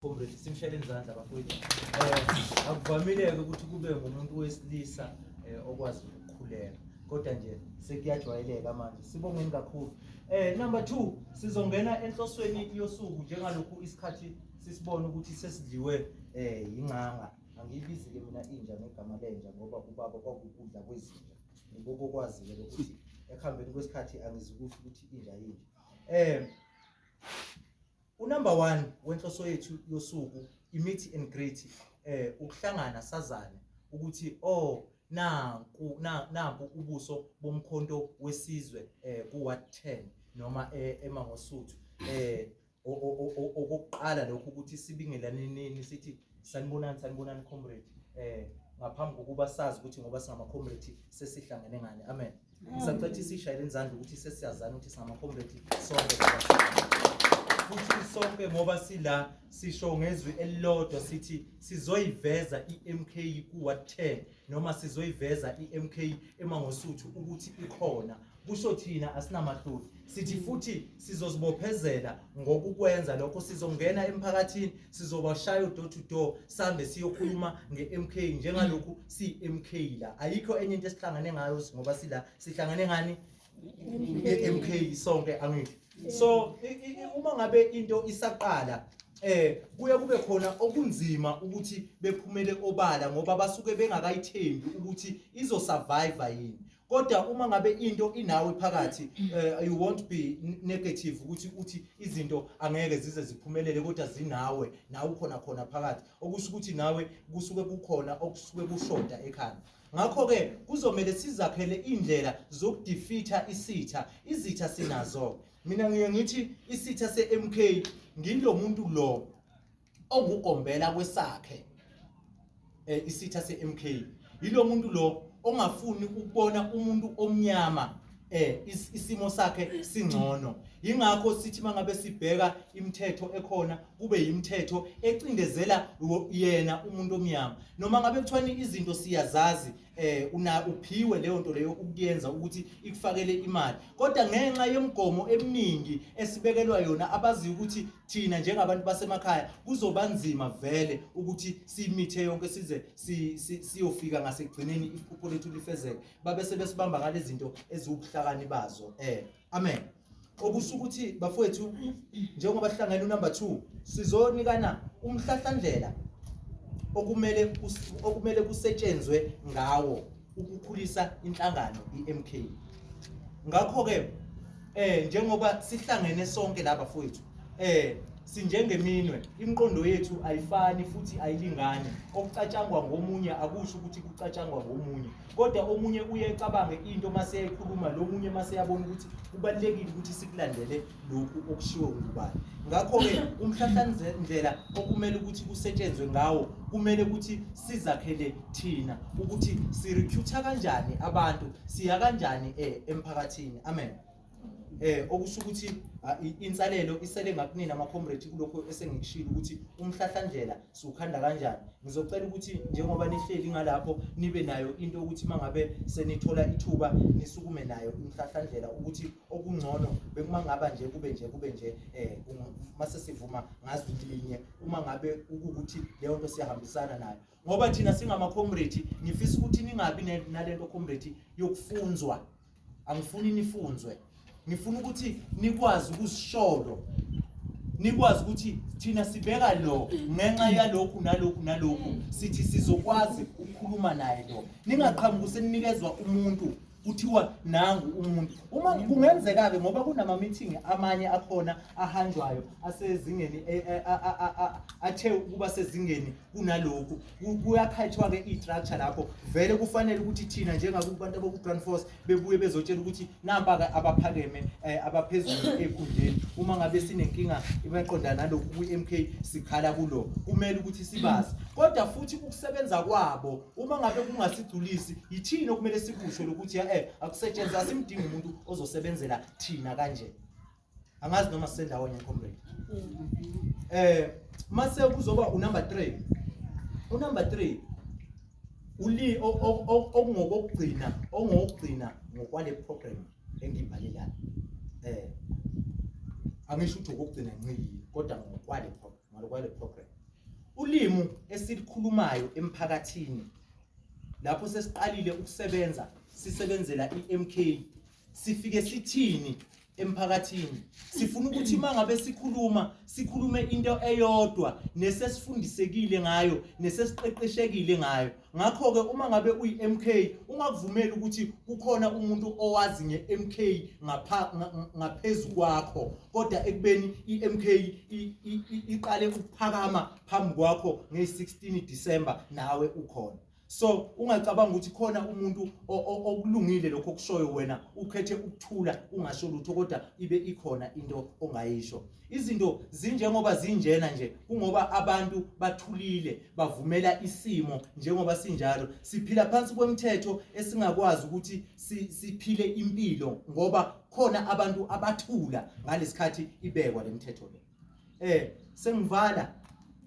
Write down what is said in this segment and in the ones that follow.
Comrade simshele izandla bafowethu. Eh akuvamileke ukuthi kube ngumuntu wesilisa eh, okwazi ukukhuleka. Kodwa nje sekuyajwayeleka manje. Sibongeni kakhulu. Eh number 2 sizongena enhlosweni yosuku njengalokhu isikhathi sisibona ukuthi sesidliwe eh ingcanga. Angiyibizi ke mina inja ngegama lenja ngoba ubaba kwakukudla kwezinja. Ngiboko kwazi ke ukuthi ekuhambeni kwesikhathi angizukusho ukuthi inja yinja. Eh Unumber one wenhloso yethu yosuku imithi and great eh ukuhlangana sazane ukuthi oh nanku nanku ubuso bomkhonto wesizwe eh ku what 10 noma eh, emangosuthu eh okokuqala lokho ukuthi sibingelaneneni sithi Sanibonani, sanibonani comrade. Eh ngaphambi kokuba sazi ukuthi ngoba singama-comrade sesihlangene ngani. Amen. Ngisacetha isishayele izandla ukuthi sesiyazana ukuthi singama-comrade sonke. Futhi sonke ngoba sila sisho ngezwi elilodwa sithi sizoyiveza i-MK kuwa 10 noma sizoyiveza iMK emangosuthu ukuthi ikhona kusho thina asinamahloni sithi futhi sizozibophezela ngokukwenza lokho sizongena emphakathini sizobashaya udoor to door sambe siyokhuluma ngeMK njengalokhu siMK la ayikho enye into esihlangane ngayo ngoba sila sihlangane ngani MK sonke angithi so i- i- i- uma ngabe into isaqala eh kuye kube khona okunzima ukuthi bephumele obala ngoba basuke bengakayithembi ukuthi izo survive yini kodwa uma ngabe into inawe phakathi eh, you won't be n- negative ukuthi uthi izinto angeke zize ziphumelele kodwa zinawe nawe ukhona khona phakathi okusho ukuthi nawe kusuke kukhona okusuke kushoda ekhanda Ngakho-ke kuzomele sizakhele indlela zokudifitha isitha. Izitha sinazo. Mina ngiye ngithi isitha se-MK ngilo muntu lo ongugombela kwesakhe eh isitha se-MK yilo muntu lo ongafuni ukubona umuntu omnyama eh isimo sakhe singcono ingakho sithi mangabe sibheka imithetho ekhona kube yimithetho ecindezela yena umuntu omnyama noma ngabe kuthiwani izinto siyazazi eh una uphiwe leyo nto leyo ukuyenza ukuthi ikufakele imali kodwa ngenxa yemigomo eminingi esibekelwa yona abazi ukuthi thina njengabantu basemakhaya kuzoba nzima vele ukuthi simithe yonke size siyofika ngasekugcineni iphupho lethu lifezeke babe sebesibamba ngalezi zinto eziwubuhlakani bazo eh amen okusho ukuthi bafowethu njengoba sihlangene unumber 2 sizonikana umhlahlandlela okumele okumele kusetshenzwe ngawo ukukhulisa inhlangano iMK ngakho ke eh njengoba sihlangene sonke laba fowethu Eh sinjengeminwe imiqondo yethu ayifani futhi ayilingani okucatshangwa ngomunye akusho ukuthi kucatshangwa ngomunye kodwa omunye uye ecabange into mase yayikhuluma lo munye mase yabona ukuthi kubalekile ukuthi sikulandele lokhu okushiwo ngubani ngakho ke umhlahlandlela okumele ukuthi kusetshenzwe ngawo kumele ukuthi sizakhele thina ukuthi sirecruiter kanjani abantu siya kanjani eh, emphakathini amen eh okusho ukuthi ah, i- insalelo isele ngakunini ama-comrade kulokho esengikushilo ukuthi umhlahlandlela siwukhanda kanjani ngizocela ukuthi njengoba nihleli ngalapho nibe nayo into yokuthi uma ngabe senithola ithuba nisukume nayo umhlahlandlela ukuthi okungcono bekuma ngaba nje kube nje kube nje um uma sesivuma ngazi linye uma ngabe kukuthi leyo nto siyahambisana nayo ngoba thina singama-comrade ngifisa ukuthi ningabi ne- nale nto comrade yokufunzwa angifuni nifunzwe ngifuna ukuthi nikwazi ukusisholo nikwazi ukuthi thina sibeka lo ngenxa yalokhu nalokhu nalokhu sithi sizokwazi ukukhuluma naye lo ningaqhamuki seninikeza umuntu kuthiwa nangu umuntu uma kungenzeka-ke ngoba kunama-meeting amanye akhona ahanjwayo asezingeni athe ukuba sezingeni kunalokhu kuyakhathwa-ke i-structure lapho vele kufanele ukuthi thina njengakubantu abaku-grand force bebuye bezotshela ukuthi nampa-ke abaphakeme um eh, abaphezulu ey'khundleni uma ngabe sinenkinga imaqonda nalokhu kwi-m k sikhala kulo kumele ukuthi sibazi kodwa futhi ukusebenza kwabo uma ngabe kungasigculisi yithini okumele sikusho lokuthi ya-e eh, akusetshenziswa simdinga umuntu ozosebenzela thina kanje angazi noma sendawonye comrade eh mase kuzoba unumber 3 unumber 3 uli okungokugcina ongokugcina ngokwale program engibhalelayo eh angisho ukuthi ukugcina nqili kodwa ngokwale program ngokwale program ulimu esilikhulumayo emphakathini lapho sesiqalile ukusebenza sisebenzela iMK sifike sithini emphakathini sifuna ukuthi mangabe sikhuluma sikhulume into eyodwa nesesifundisekile ngayo nesesiqeqeshekile ngayo ngakho ke uma ngabe uyi MK ungakuvumeli ukuthi kukhona umuntu owazi nge MK ngapha ngaphezulu kwakho kodwa ekubeni i MK iqale ukuphakama phambi kwakho nge 16 December nawe ukhona so ungacabanga ukuthi khona umuntu okulungile lokho okushoyo wena ukhethe ukuthula ungasho lutho kodwa ibe ikhona into ongayisho izinto zinjengoba zinjena nje kungoba abantu bathulile bavumela isimo njengoba sinjalo siphila phansi kwemthetho esingakwazi ukuthi siphile impilo ngoba khona abantu abathula ngalesikhathi ibekwa lemthetho le eh sengivala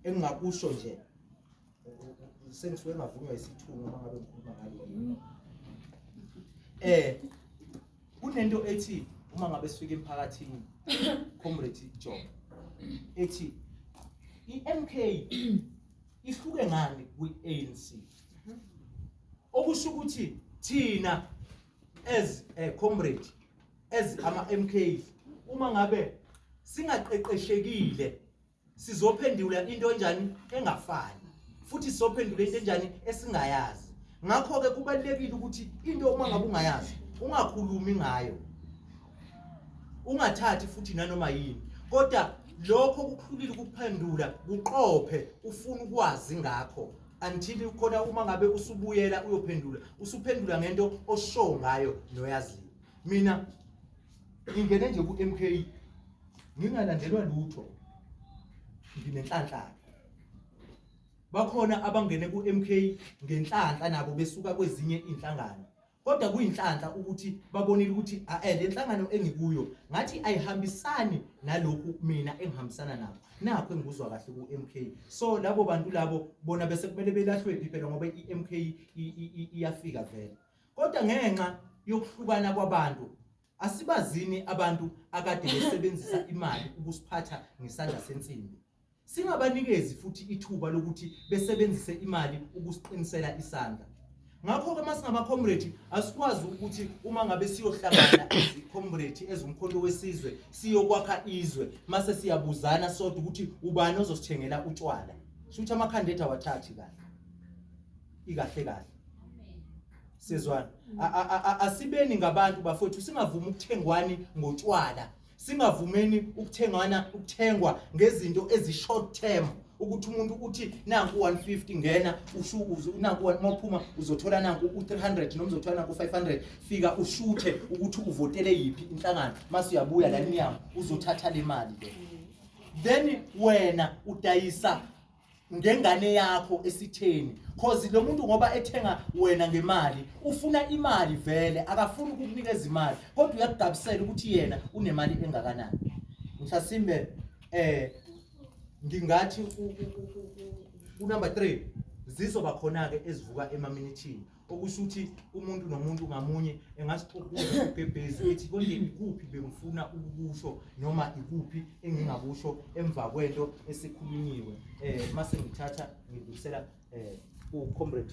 engingakusho nje sengisuke ngavunywa isithunywa uma ngabe ngikhuluma ngalo eh kunento ethi uma ngabe sifika emphakathini comrade John ethi iMK ihluke ngani kwiANC okusho ukuthi thina as a eh, comrade as ama MK uma ngabe singaqeqeshekile sizophendula into enjani engafani futhi sizophendula into enjani esingayazi ngakho-ke kubalulekile ukuthi into uma ngabe ungayazi ungakhulumi ngayo ungathathi futhi nanoma yini kodwa lokho kukhulile ukuphendula kuqophe ufuna ukwazi ngakho until khona uma ngabe usubuyela uyophendula usuphendula ngento osho ngayo noyaziyo mina ingene nje ku-mk ngingalandelwa lutho nginenhlanhlaka bakhona abangene ku-mk ngenhlanhla nabo besuka kwezinye iy'nhlangano kodwa kuyinhlanhla ukuthi babonile ukuthi ae le nhlangano engikuyo ngathi ayihambisani nalokhu mina engihambisana nabo nakho engikuzwa kahle ku-mk so labo bantu labo bona bese kumele belahlwephi phela ngoba i-mk iyafika vele Kodwa ngenxa yokuhlukana kwabantu, asibazini abantu akade besebenzisa imali ukusiphatha ngesandla sensimbi. Singabanikezi futhi ithuba lokuthi besebenzise imali ukusiqinisela isandla. Ngakho-ke uma singamakhomredi asikwazi ukuthi uma ngabe siyohlangana izikhomredi ezumkhonto wesizwe siyokwakha izwe mase siyabuzana sodwa ukuthi ubani ozosithengela utshwala. Shuthi amakhanda ethu awathathi kahle. ikahle kahle sizwana asibeni ngabantu bafowethu singavumi ukuthengwani ngotshwala singavumeni ukuthengana ukuthengwa ngezinto ezi short term ukuthi umuntu uthi nanku 150 ngena ushukuze nanku maphuma uzothola nanku u300 noma uzothola nanku 500 fika ushuthe ukuthi uvotele yipi inhlangano mase uyabuya la niyamu uzothatha le mali ke then wena udayisa ngengane yakho esitheni cause lo muntu ngoba ethenga wena ngemali ufuna imali vele akafuni ukukunikeza imali kodwa uyakugabisela ukuthi yena unemali engakanani mhlasimbe eh ngingathi unumber 3 zizoba khona ke ezivuka emaminithini okusho ukuthi umuntu nomuntu ngamunye engasixokuza ugebhezi ethi konje ikuphi bengifuna ukukusho noma ikuphi engingakusho emva kwento esikhulunyiwe um eh, uma sengithatha ngidlulisela um eh, kucomrade